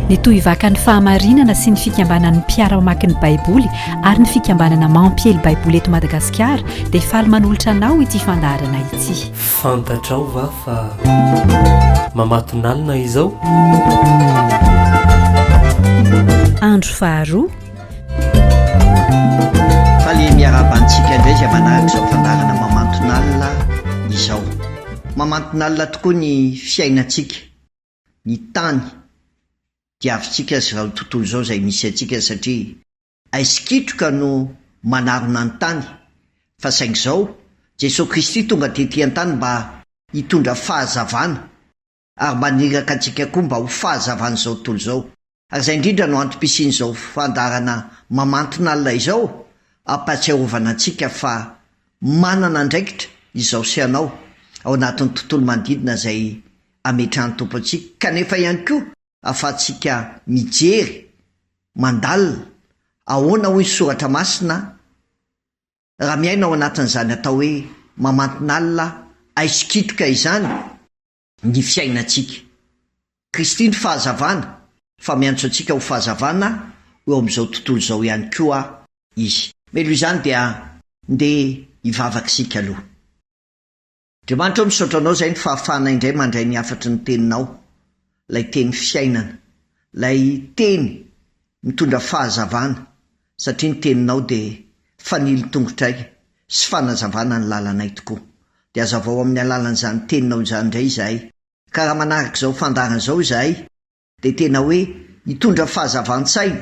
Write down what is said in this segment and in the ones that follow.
ny tohivakan'ny fahamarinana sy ny fikambanan'ny mpiara-mamaky ny baiboly ary ny fikambanana mampiely baiboly eto madagasikara dia faly manolotra anao ity fandaharana ity fantatrao va fa mamatonalina izao andro faharoa Faly miarahaba antsika indray izay manaraka izao fandaharana mamanton'alina izao. Mamanton'alina tokoa ny fiainantsika, ny tany diavintsika sy izao tontolo izao izay misy antsika satria aizikitroka no manarona ny tany fa saingy izao Jesoa Kristy tonga tety an-tany mba hitondra fahazavana ary maniraka antsika koa mba ho fahazavan'izao tontolo izao, ary izay indrindra no antom-pisian'izao fandaharana mamantin'alina izao, hampahatsiarovana antsika fa manana andraikitra izaho sy ianao ao anatin'ny tontolo manodidina izay ametrahan'ny Tompo antsika, kanefa ihany koa ahafahantsika mijery, mandalina, ahoana hoy ny Soratra Masina? raha miaina ao anatin'izany atao hoe mamantin'alina aisikitoka izany ny fiainantsika. Kristy ny fahazavana, fa miantso antsika ho fahazavana eo amin'izao tontolo izao ihany koa Izy. Meloha izany dia ndeha hivavaka isika aloha. Andriamanitra ô misaotra anao zay ny fahafahana indray mandray ny hafatry ny teninao, lay teny fiainana, lay teny mitondra fahazavana satria ny teninao de fanilo tongotray sy fanazavana ny lalanay tokoa, de azavao amin'ny alalan'izany teninao izany indray izahay ka raha manaraka izao fandaharana izao izahay, dia tena hoe hitondra fahazavan-tsaina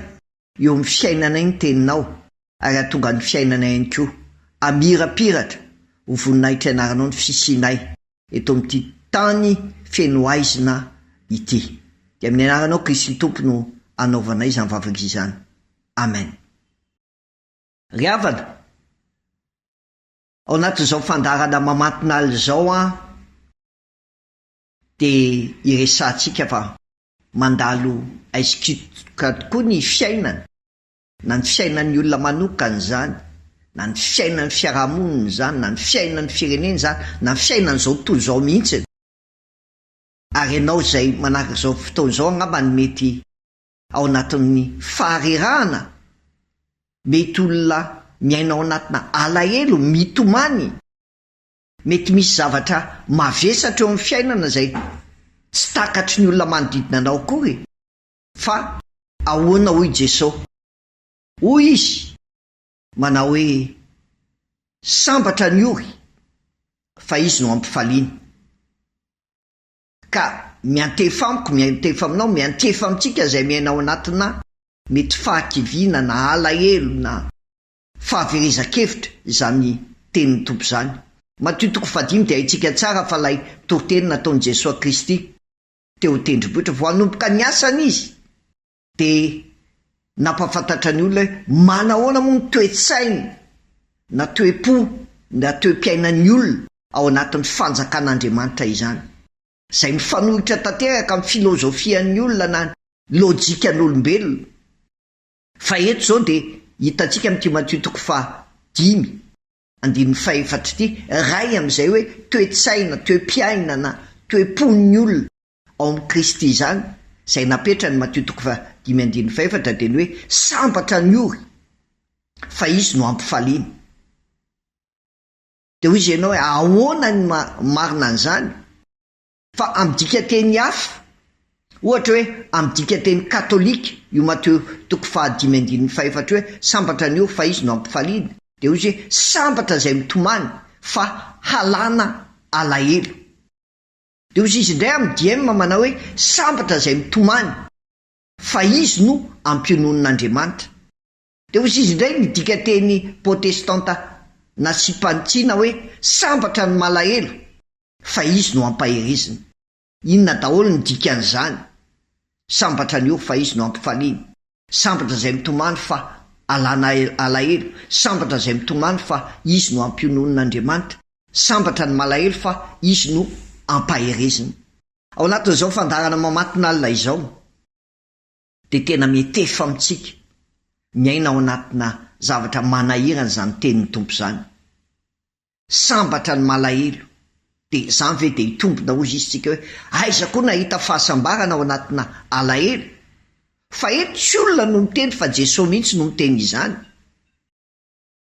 eo amin'ny fiainanay ny teninao ary hahatonga ny fiainanay ihany koa hamirapiratra ho voninahitry anaranao ny fisianay eto amin'ity tany feno haizina ity dia amin'ny anaranao Kristy ny Tompo no anaovanay izany vavaka izany Amen. Ry havana, ao anatin'izao fandaharana mamantin'ala izao aho. Dia iresahantsika fa mandalo aici quitteka tokoa ny fiainana, na ny fiainan'ny olona manokana izany, na ny fiainan'ny fiarahamonina izany, na ny fiainan'ny firenena izany, na ny fiainan'izao tontolo izao mihitsy. Ary ianao izay manaraka izao fotoana izao angamba no mety ao anatin'ny faharerahana, mety olona miaina ao anatina alahelo, mitomany. Mety misy zavatra mavesatra eo amin'ny fiainana izay tsy takatry ny olona manodidina anao akory, fa ahoana hoy Jesosy? Hoy Izy, manao hoe, Sambatra ny ory, fa izy no ampifaliana. Ka miantefa amiko, miantefa aminao, miantefa amintsika izay miaina ao anatinà mety fahakiviana na alahelo na Fahaverezan-kevitra izany tenin'ny Tompo izany. Matio toko fahadimy dia haintsika tsara fa ilay toriteny nataon'i Jesoa Kristy teo an-tendrombohitra vao hanomboka ny asany Izy dia nampahafantatra ny olona hoe manahoana moa ny toe-tsaina na toe-po na toe-piainan'ny olona ao anatin'ny fanjakan'Andriamanitra izany, izay mifanohitra tanteraka amin'ny filozofian'ny olona na lojikan'olombelona. Fa eto izao dia hitantsika amin'ity Matio toko faha dimy andininy faha efatra ity iray amin'izay hoe toe-tsaina, toe-piainana, toe-pon'ny olona ao amin'i Kristy izany izay napetrany, Matio toko faha dimy andininy faha efatra dia ny hoe sambatra ny ory fa izy no hampifaliana. Dia hoy izy ianao hoe ahoana ny marina an'izany? Fa amin'ny dikanteny hafa, ohatra hoe amin'ny dikanteny katolika io Mateo toko fahadimy andininy fahefatra io hoe sambatra ny ora fa izy no ampifaliana, dia hoy izy hoe sambatra izay mitomany fa halana alahelo. Dia hozy izy indray amin'ny DM manao hoe sambatra izay mitomany fa izy no ampiononina Andriamanitra. Dia hozy izy indray ny dikanteny protestanta nasiam-panitsiana hoe sambatra ny malahelo fa izy no ampaherezina. Inona daholo ny dikan'izany? Sambatra ny ora fa izy no ampifaliana. Sambatra izay mitomany fa alana alahelo. Sambatra izay mitomany fa izy no ampiononin'Andriamanitra. Sambatra ny malahelo fa izy no ampaherezina. Ao anatin'izao fandaharana mamantin'alina izao. dia tena mihetefa amintsika miaina ao anatina zavatra manahirana izany tenin'ny Tompo izany. Sambatra ny malahelo, dia izany ve dia hitombina hozy izy tsika hoe aiza koa nahita fahasambarana ao anatina alahelo? Fa eto tsy olona no miteny fa Jesosy mihitsy no miteny izany.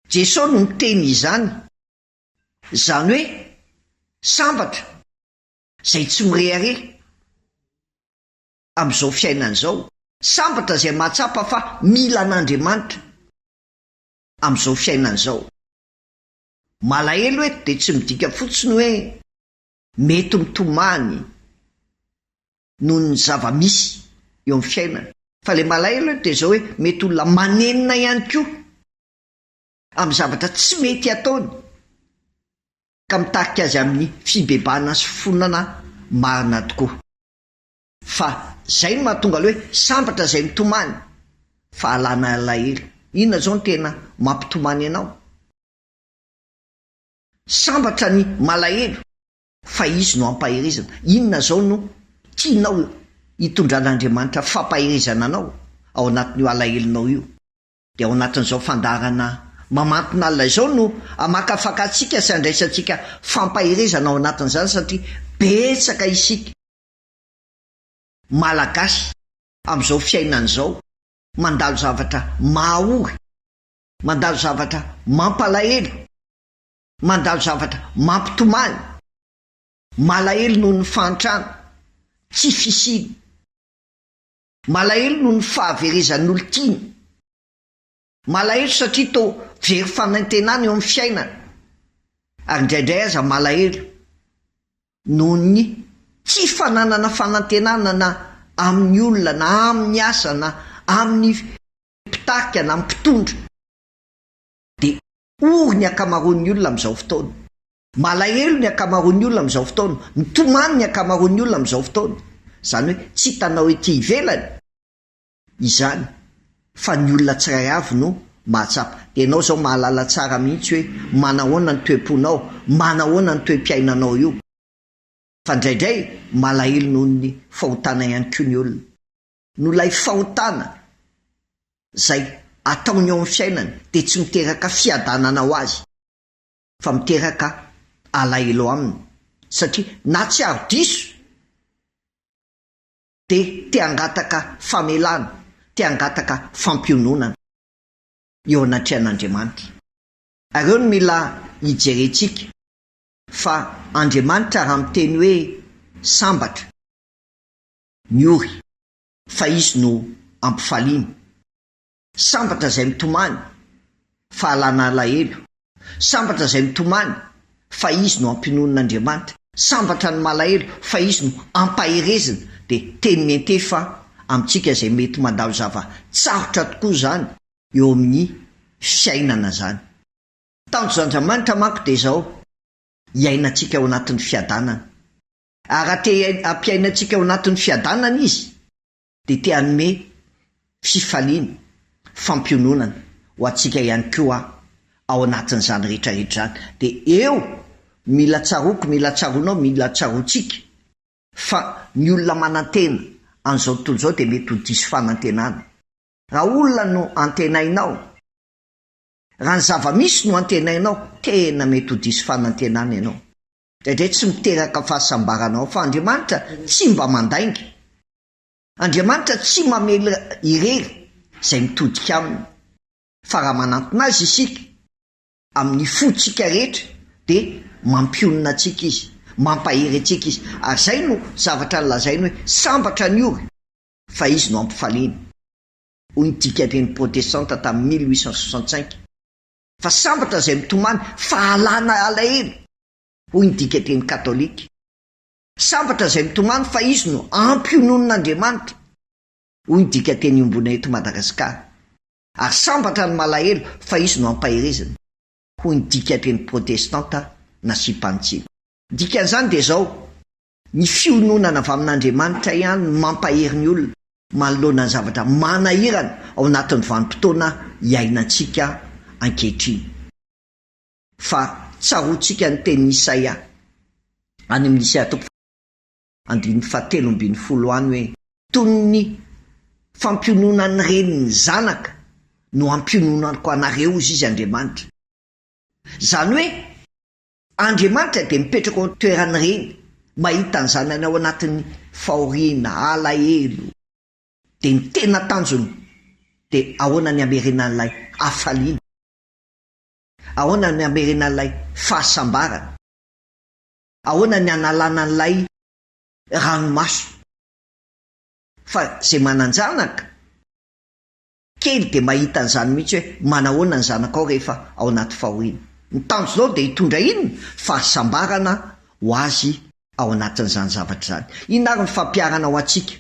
Jesosy no miteny izany. Izany hoe sambatra izay tsy mirehareha. amin'izao fiainana izao, sambatra izay mahatsapa fa mila an'Andriamanitra amin'izao fiainana izao. Malahelo eto dia tsy midika fotsiny hoe mety mitomany noho ny zava-misy eo amin'ny fiainana, fa ilay malahelo eto dia izao hoe mety olona manenina ihany koa amin'ny zavatra tsy mety ataony ka mitarika azy amin'ny fibebahana sy fifonana marina tokoa. Fa zay no mahatonga le hoe sambatra zay mitomany fa alana alahelo. Inona zao no tena mampitomany anao? Sambatra ny malahelo fa izy no ampaherezana. Inona zao no tianao hitondran'Andriamanitra fampaherezana anao ao anatin'io alahelonao io? Dia ao anatin'izao fandaharana mamantina alina izao no hamakafaka antsika sy handraisantsika fampaherezana ao anatin'izany satria betsaka isika. Malagasy amin'izao fiainana izao mandalo zavatra mahaory, mandalo zavatra mampalahelo, mandalo zavatra mampitomany, malahelo noho ny fahantrana, tsy fisiana, malahelo noho ny fahaverezan'olon-tiana, Malahelo satria toa very fanantenana eo amin'ny fiainana, ary indraindray aza malahelo noho ny tsy fananana fanantenana na amin'ny olona na amin'ny asa na amin'ny mpitarika na mpitondra, dia ory ny ankamaroan'ny olona amin'izao fotoana. Malahelo ny ankamaroan'ny olona amin'izao fotoana, mitomany ny ankamaroan'ny olona amin'izao fotoana, izany hoe tsy hitanao ety ivelany. izany fa ny olona tsiray avy no mahatsapa. Enao zao mahalala tsara mihitsy hoe manahoana ny toe-ponao, manahoana ny toe-piainanao io. Fa ndraindray malahelo noho ny fahotana ihany koa ny olona. Noho ilay fahotana zay ataony eo amin'ny fiainany dia tsy miteraka fiadanana ho azy fa miteraka alahelo aminy satria na tsiaro diso, dia te hangataka famelana, te hangataka fampiononana eo anatrehan'Andriamanitra. Ary eo no mila hijerentsika fa Andriamanitra raha miteny hoe sambatra, miory, fa Izy no ampifaliana, Sambatra izay mitomany fa alana alahelo. Sambatra izay mitomany fa izy no ampinonon' Andriamanitra. Sambatra ny malahelo fa izy no ampaherezina. Dia teny miente fa amintsika izay mety mandalo zava tsarotra tokoa izany eo amin' ny fiainana izany. Tanjon' Andramanitra manko dia izao, hiainantsika ao anatin' ny fiadanana. Ary raha te hampiaina antsika ao anatin' ny fiadanana Izy, dia te hanome fifaliana, fampiononana ho antsika ihany koa aho ao anatin'izany rehetra rehetra izany. Dia eo, mila tsaroako, mila tsaroanao, mila tsaroantsika fa ny olona manantena an'izao tontolo izao dia mety ho diso fanantenana. Raha olona no antenainao, raha ny zava-misy no antenainao, tena mety ho diso fanantenana ianao. Indraindray tsy miteraka fahasambarana ao fa Andriamanitra tsy mba mandainga. Andriamanitra tsy mamely irery izay mitodika Aminy fa raha manantona Azy isika amin'ny fontsika rehetra dia mampionona antsika Izy, mampahery antsika Izy. Ary izay no zavatra nolazainy hoe sambatra ny ory fa Izy no hampifaliana, hoy ny dikan-dreny protestanta tamin'ny mille huit cent soixante-cinq. fa sambatra izay mitomany fa alana alahelo, hoy ny dikateny katolika. Sambatra izay mitomany fa izy no ampy hononin'Andriamanitra, hoy ny dikateny iombona eto Madagasikara, ary sambatra ny malahelo fa izy no ampaherezina, hoy ny dikateny protestanta nasiam-panitsiana. Ny dikan'izany dia izao, Ny fiononana avy amin'Andriamanitra ihany no mampahery ny olona manoloana ny zavatra manahirana ao anatin'ny vanim-potoana iainantsika ankehitriny. Fa tsaroantsika ny tenin'i Isaia any amin'ny Isaia toko faharoa andininy fahatelo ambin'ny folo any hoe, Toy ny fampiononan'ny reny ny zanaka no ampiononako anareo, hoy izy Andriamanitra. Izany hoe. Andriamanitra dia mipetraka ao an-toeran'ireny mahita ny zanany ao anatin'ny fahoriana, alahelo. Dia ny tena tanjony dia ahoana ny hamerenan'ilay hafaliana? Ahoana ny hamerenan'ilay fahasambarana? Ahoana ny hanalana an'ilay ranomaso? Fa izay manan-janaka. Kely dia mahita an'izany mihitsy hoe manahoana ny zanakao rehefa ao anaty fahoriana. Ny tanjonao dia hitondra inona? Fahasambarana ho azy ao anatin'izany zavatra izany. Inona ary ny fampiharana ho antsika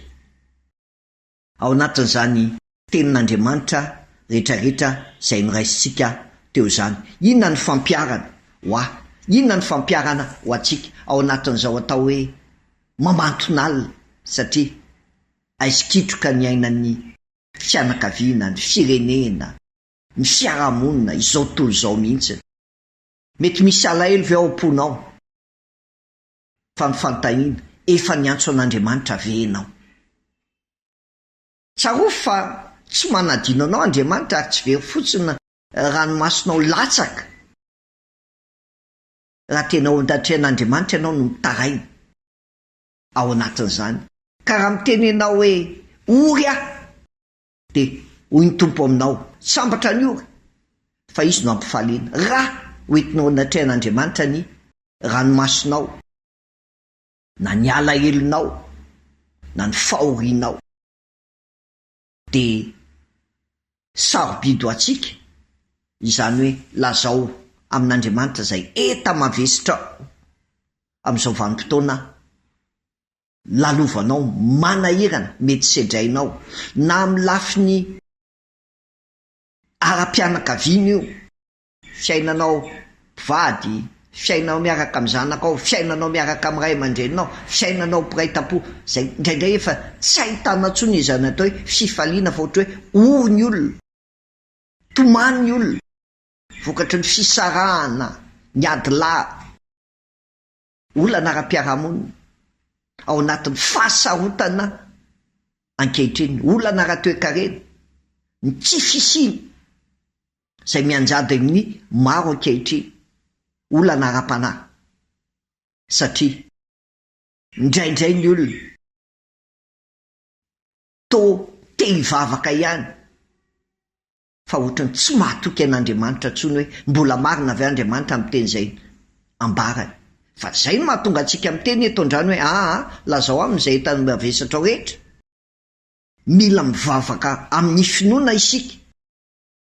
ao anatin'izany Tenin'Andriamanitra rehetrarehetra izay noraisintsika teo izany? Inona ny fampiharana ho ahy? Inona ny fampiharana ho antsika ao anatin'izao atao hoe mamanton'alina satria aizikitroka ny ainan'ny fianakaviana, ny firenena, ny fiarahamonina, izao tontolo izao mihitsy. Mety misy alahelo ve ao am-ponao? Fa ny fanontaniana, efa niantso an'Andriamanitra ve ianao? Tsarovy fa tsy manadino anao Andriamanitra ary tsy very fotsiny ranomasonao latsaka raha tena ao an-danitr'ain'Andriamanitra ianao no mitaraina. ao anatin'izany, ka raha miteny ianao hoe, Ory aho! dia hoy ny Tompo aminao, Sambatra ny ory, fa izy no ampifaliana. Ra hoentinao anatrehan'Andriamanitra ny ranomasonao, na ny alahelonao, na ny fahorianao. dia sarobidy ho antsika, izany hoe lazao amin'Andriamanitra izay enta-mavesitra amin'izao vanim-potoana lalovanao, manahirana, mety sedrainao, na amin'ny lafiny ara-pianakaviana io, fiainanao mpivady, fiainanao miaraka amin'ny zanakao, fiainanao miaraka amin'ny ray aman-dreninao, fiainanao mpiray tampo, izay indraindray efa tsy ahitana intsony izany atao hoe fifaliana fa ohatra hoe ory ny olona, tomany ny olona vokatry ny fisarahana, ny ady lavitra. Olana ara-piarahamonina ao anatin'ny fahasarotana ankehitriny, olana ara-toekarena, ny tsy fisiana izay mianjady amin'ny maro ankehitriny, olana ara-panahy satria indraindray ny olona toa te hivavaka ihany fa hotrany tsy mahatoky an'Andriamanitra intsony hoe mbola marina ve Andriamanitra miteny izay ambarany. Fa izay no mahatonga antsika miteny eto andrany hoe aa lazao aminy izay hitanao mavesatrao rehetra. Mila mivavaka amin'ny finoana isika.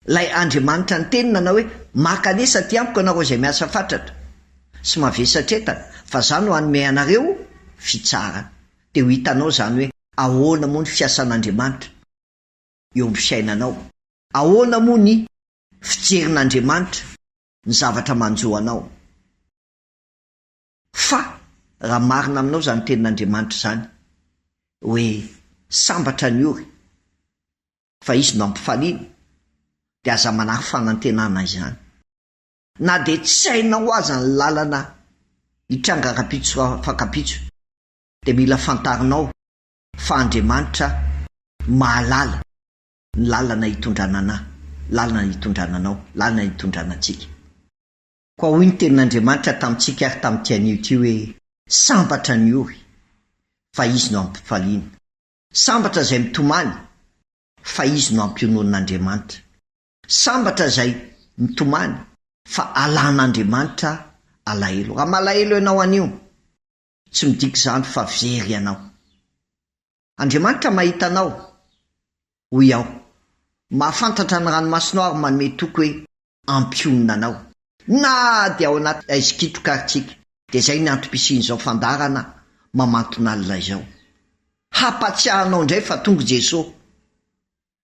Ilay Andriamanitra niteny nanao hoe maka anie satria amiko ianareo izay miasa fatratra sy mavesatretana fa za no hanome anareo fitsarana. Dia ho hitanao izany hoe ahoana moa ny fiasan'Andriamanitra. eo amin'ny fiainanao? Ahoana moa ny fijerin'Andriamanitra ny zavatra manjo anao? Fa raha marina aminao izany tenin'Andriamanitra izany hoe sambatra ny ory fa izy no hampifaliana dia aza manary fanantenana izany. Na dia tsy hainao aza ny lalana hitranga rahampitso raha fankam-pitso dia mila fantarinao Fa Andriamanitra mahalala ny lalana hitondrana anà, lalana hitondrana anao, lalana hitondrana antsika. Koa hoy ny Tenin'Andriamanitra tamintsika ary tamin'ity anio ity hoe, Sambatra ny ory, fa izy no ampifaliana. Sambatra izay mitomany, fa izy no ampionon'Andriamanitra. Sambatra izay mitomany, fa alan'Andriamanitra alahelo. Raha malahelo ianao anio, Tsy midika izany fa very ianao. Andriamanitra mahita anao, hoy aho. Mahafantatra ny ranomasonao ary manome toky hoe hampionona anao. Na dia ao anaty haizikitroka ary tsika, dia izay ny antom-pisian'izao fandaharana mamanton'alina izao. Hampatsiahy anao indray fa tonga i Jesoa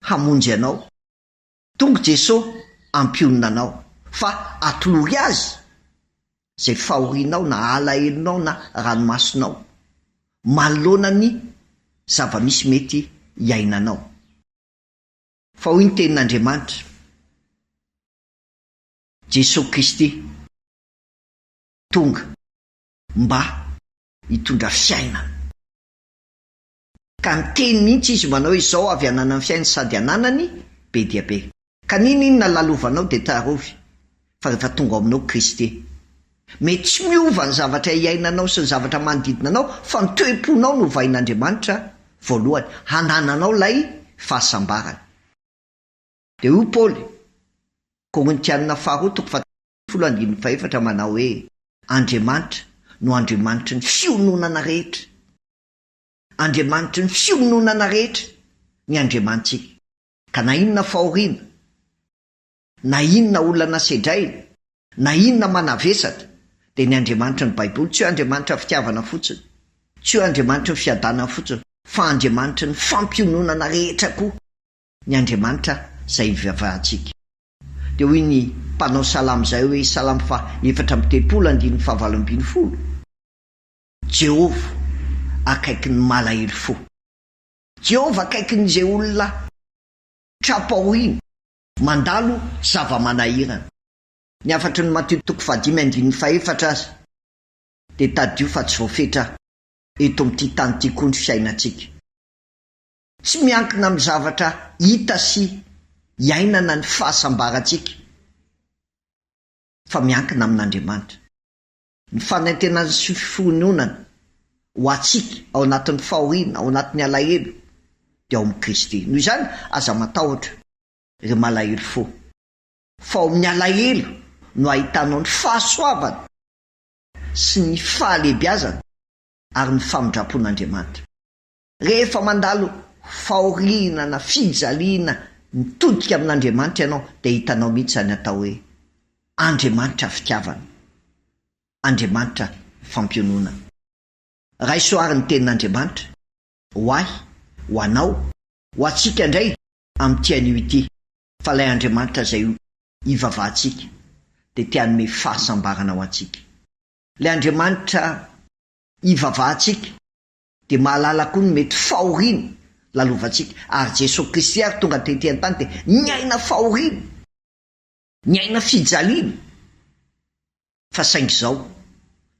hamonjy anao. Tonga Jeso ampionona anao fa atolory azy zay fahorianao na alahelonao na ranomasonao manoloana ny zava-misy mety iainanao fa hoy ny tenin'Andriamanitra Jeso Kristy tonga mba hitondra fiainana. Ka niteny mihitsy izy manao hoe zao avy ananan'ny fiainany sady ananany be dia be. Ka n'inon'inona lalovanao dia tsarovy fa rehefa tonga ao aminao Kristy. Mety tsy miova ny zavatra iainanao sy ny zavatra manodidina anao fa ny toe-ponao no hovain'Andriamanitra voalohany hanananao ilay fahasambarana. Dia hoy Paoly, Korintianina faharoa toko fahatelo ambin'ny folo andininy fahefatra manao hoe, Andriamanitra no Andriamanitry ny fiononana rehetra. Andriamanitry ny fiononana rehetra ny Andriamanitsika, ka na inona fahoriana, na inona olana sedraina, na inona manavesatra, dia ny Andriamanitry ny Baiboly tsy hoe Andriamanitra fitiavana fotsiny, tsy hoe Andriamanitry ny fiadanana fotsiny, fa Andriamanitry ny fampiononana rehetra koa ny Andriamanitra izay ivavahantsika. Dia hoy ny mpanao salamo izay hoe, Salamo faha efatra amby telopolo, andininy fahavalo ambin'ny folo, Jehovah akaiky ny malahelo fo. Jehovah akaiky ny izay olona tra-pahoriana, mandalo zava-manahirana. Ny hafatry ny Matio toko fahadimy andininy fahefatra aza dia tadidio fa tsy voafetra eto amin'ity tany ity koa ny fiainantsika. Tsy miankina amin'ny zavatra hita sy iainana ny fahasambarantsika fa miankina amin'Andriamanitra. Ny fanentenany sy fihononany ho antsika ao anatin'ny fahoriana, ao anatin'ny alahelo, dia ao amin'i Kristy. Noho izany, aza matahotra, ry malahelo fo, fa ao amin'ny alahelo no ahitanao ny fahasoavana sy ny fahalehibiazana ary ny famindram-pon'Andriamanitra. Rehefa mandalo fahoriana na fijaliana mitodika amin'Andriamanitra ianao dia hitanao mihitsy izany atao hoe Andriamanitra fitiavana, Andriamanitra fampiononana. Raiso àry ny tenin'Andriamanitra, ho ahy, ho anao, ho antsika indray amin'ity anio ity, fa ilay Andriamanitra izay ivavahantsika dia te hanome fahasambarana ho antsika. Ilay Andriamanitra ivavahantsika Dia mahalala koa ny mety fahoriana lalovantsika. Ary Jesoa Kristy àry tonga tetỳ an-tany dia niaina fahoriana, niaina fijaliana, fa saingy izao,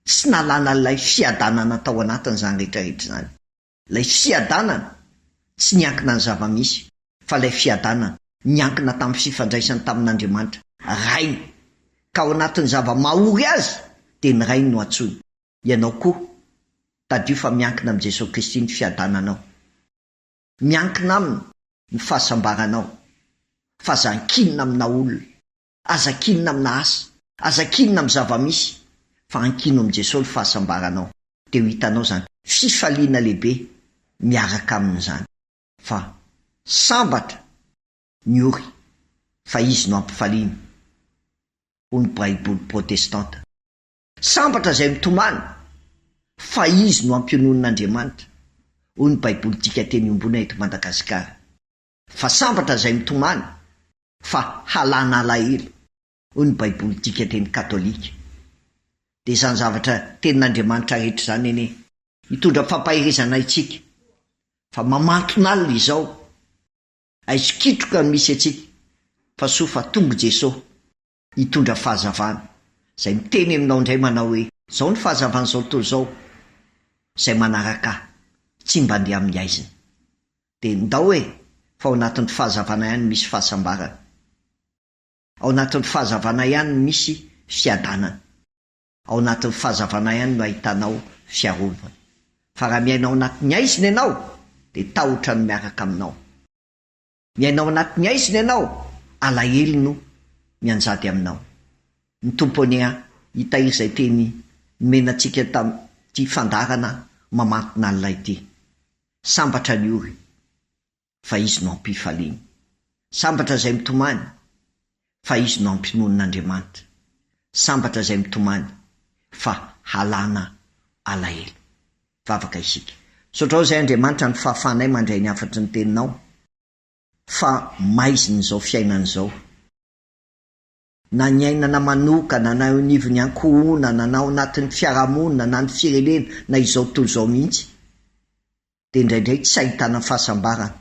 tsy nalana ilay fiadanana tao anatiny izany rehetrarehetra izany. Ilay fiadanana tsy niankina ny zava-misy, fa ilay fiadanana niankina tamin'ny fifandraisany tamin'Andriamanitra, Rainy. Ka ao anatin'ny zava-mahory azy, dia ny Rainy no antsoiny. Ianao koa, tadidio fa miankina amin'i Jesoa Kristy ny fiadananao. Miankina Aminy ny fahasambaranao. Fa aza ankinina amina olona. Aza ankinina amina asa. Aza ankinina amin'ny zava-misy. Fa ankino amin'i Jesoa ny fahasambaranao. Dia ho hitanao izany fifaliana lehibe miaraka Aminy izany. Fa sambatra ny ory fa Izy no ampifaliana, hoy ny Baiboly protestanta. Sambatra izay mitomany fa izy no ampiononin'Andriamanitra, hoy ny Baiboly dika teny iombona eto Madagasikara. Fa sambatra izay mitomany fa halana alahelo, hoy ny Baiboly dika teny katolika. Dia izany zavatra tenin'Andriamanitra rehetra izany anie. Mitondra fampaherezana antsika fa mamanton'alina izao, aizokitroka no misy antsika fa soa fa tonga i Jesoa Hitondra fahazavana. Izay miteny aminao indray manao hoe, izao ny fahazavan'izao tontolo izao, izay manaraka ahy, tsy mba andeha amin'ny haizina. Dia ndao e, fa ao anatin'ny fahazavana ihany no misy fahasambarana. Ao anatin'ny fahazavana ihany no misy fiadanana. Ao anatin'ny fahazavana ihany no ahitanao fiarovana. Fa raha miaina ao anatin'ny haizina ianao, dia tahotra no miaraka aminao. Miaina ao anatin'ny haizina ianao, alahelo no mianjady aminao. Ny Tompo anie an, hitahiry izay teny nomena antsika tamin'ity fandaharana mamantin'alina ity. Sambatra ny ory, fa Izy no ampifaliany. Sambatra izay mitomany, fa izy no ampinonin'Andriamanitra. Sambatra izay mitomany fa halana alahelo. Vavaka isika. Misaotra izay Andriamanitra ny fahafahanay mandray ny hafatry ny teninao fa maizin'izao fiainana izao. Na ny ainana manokana na eo anivon'ny ankohonana na ao anatin'ny fiarahamonina na ny firenena na izao tontolo izao mihitsy. dia indraindray tsy ahitana fahasambarana.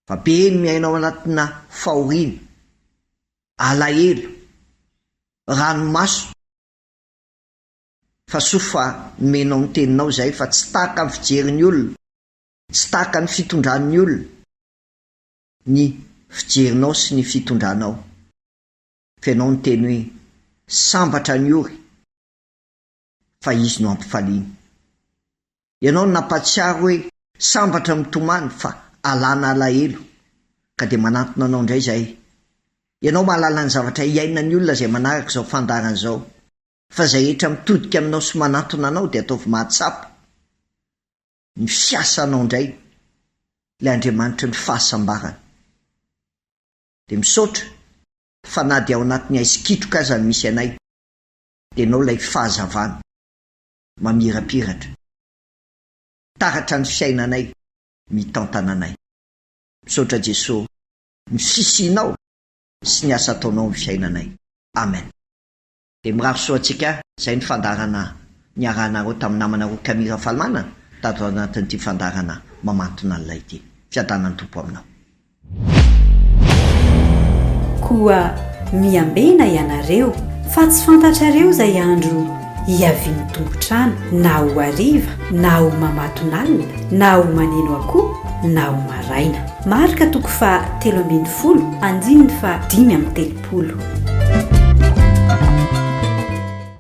Fa be ny miaina ao anatina fahoriana, alahelo, ranomaso. Fa soa fa nomenao ny Teninao izahay fa tsy tahaka ny fijerin'ny olona, tsy tahaka ny fitondran'ny olona ny fijerinao sy ny fitondranao. F'Ianao niteny hoe, Sambatra ny ory. fa izy no ampifaliany. Ianao no nampahatsiaro hoe sambatra mitomany fa alana alahelo ka dia manantona anao indray izahay. Ianao mahalala ny zavatra iainan'ny olona izay manaraka izao fandaharana izao fa izay rehetra mitodika aminao sy manantona anao dia ataovy mahatsapa ny fiasanao indray ilay Andriamanitry ny fahasambarana. Dia misaotra fa na dia ao anatin'ny haizy kitroka aza no misy anay. Ianao ilay fahazavana mamirapiratra, taratra ny fiainanay, mitantana anay. Misaotra Jeso ny fisianao sy ny asa ataonao amin'ny fiainanay. Amen. Dia mirary soa antsika izay ny fandaharana niarahanareo tamin'ny namanareo Camille Rafalimanana tato anatin'ity fandaharana mamantona an'ilay ity. Fiadanan'ny Tompo aminao. Koa miambena ianareo, fa tsy fantatrareo izay andro hiavian'ny tompon-trano, na ho hariva, na ho mamatonalina, na ho maneno akoho, na ho maraina. Marka toko faha telo ambin'ny folo, andininy faha dimy amby telopolo.